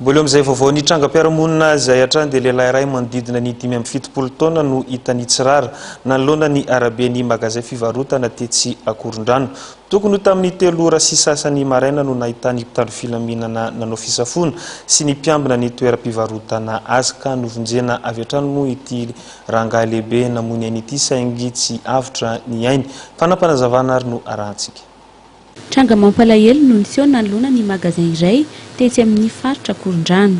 Mbola eo amin'izay vaovao ny trangam-piarahamonina izay hatrany dia lehilahy iray manodidina ny dimy amby fitopolo taona no hita nitsirara nanoloana ny araben'ny magazay fivarotana tetsy Ankorondrano. Tokony ho tamin'ny telo ora sy sasany maraina no nahitan'ny mpitandro filaminana nanao fisafoana sy ny mpiambina ny toeram-pivarotana azy ka novonjena avy hatrany moa ity rangahy lehibe namoy ny ainy ity saingy tsy avotra ny ainy. Fanapanazavana ary no arahantsika. Tranga mampalahelo no niseho nanoloana ny magasin iray tetsy amin'ny faritra Ankorondrano.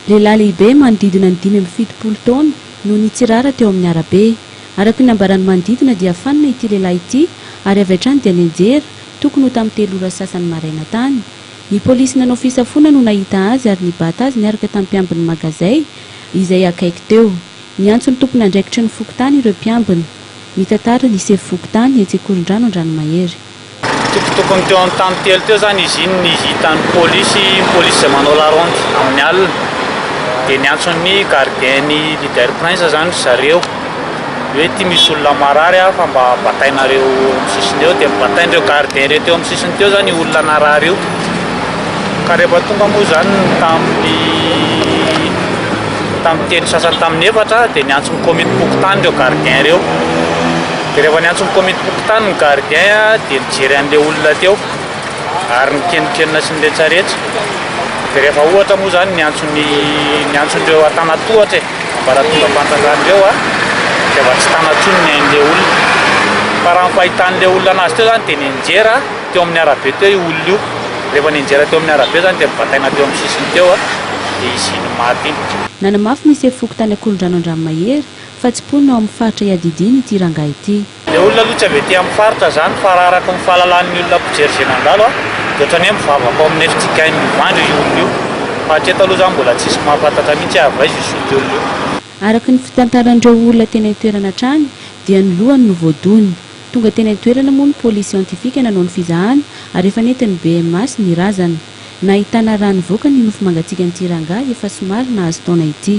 Lehilahy lehibe manodidina ny dimy amby fitopolo taona no nitsirara teo amin'ny arabe. Araka ny nambaran'ny manodidina dia fanina ity lehilahy ity ary avy hatrany dia nianjera, tokony ho tamin'ny telo ora sy sasany maraina tany. Ny polisy nanao fisafoana no nahita azy ary nibata azy niaraka tamin'ny mpiambin'ny magazay izay akaiky teo. Niantso ny tompon'andraikitry ny fokontany ireo mpiambina. Mitantara ny sefo fokontany etsy Ankorondrano Andranomahery. Toko tokony teo amin'ny tany telo teo izany izy iny ny hitan'ny polisy, ny polisy izay manao la ronde amin'ny alina dia niantso ny gardien ny leader prince izany ry zareo hoe ity misy olona marary aho fa mba batainareo eo amin'ny sisiny eo, dia nobatain'ireo gardien ireo teo amin'ny sisiny teo izany io olona narary io ka rehefa tonga moa izany ny tamin'ny tamin'ny telo sasany tamin'ny efatra dia niantso ny komitim-pokontany ireo gardien ireo. Dia rehefa niantso ny komitim-pokontany ny gardien dia nijery an'ilay olona teo ary nikenokenona sy niretsaretsa. Dia rehefa ohatra moa izany niantso ny niantso ireo antanatohatra e, ambaratongam-panjakana ireo a, dia efa tsy tana intsony ny ain'ilay olona. Fa raha ny fahitan'ilay olona anazy teo izany dia nianjera teo amin'ny arabe teo io olona io. Rehefa nianjera teo amin'ny arabe izany dia nibataina teo amin'ny sisiny teo dia izy iny maty iny. Nanamafy ny sefo fokontany Ankorondrano Andranomahery, Fa tsy mponina ao amin'ny faritra iadidiany ity rangahy ity. Ilay olona aloha tsy avy aty amin'ny faritra izany fa raha araka ny fahalalan'ny olona mpijery izay nandalo aho dia ohatran'ny hoe mivavaka ao amin'ny FJKM Ivandry io olona io fa hatreto aloha izany mbola tsy nisy mahafantatra mihitsy hoe avy aiza io solika olona io. Araka ny fitantaran'ireo olona teny an-toerana hatrany dia ny lohany no voadona. Tonga teny an-toerana moa ny polisy siantifika nanao ny fizahana ary efa nentin'ny BMAS ny razana. Nahitana rà nivoaka ny nofo mangatsiakan'ity rangahy efa somary nahazo taona ity.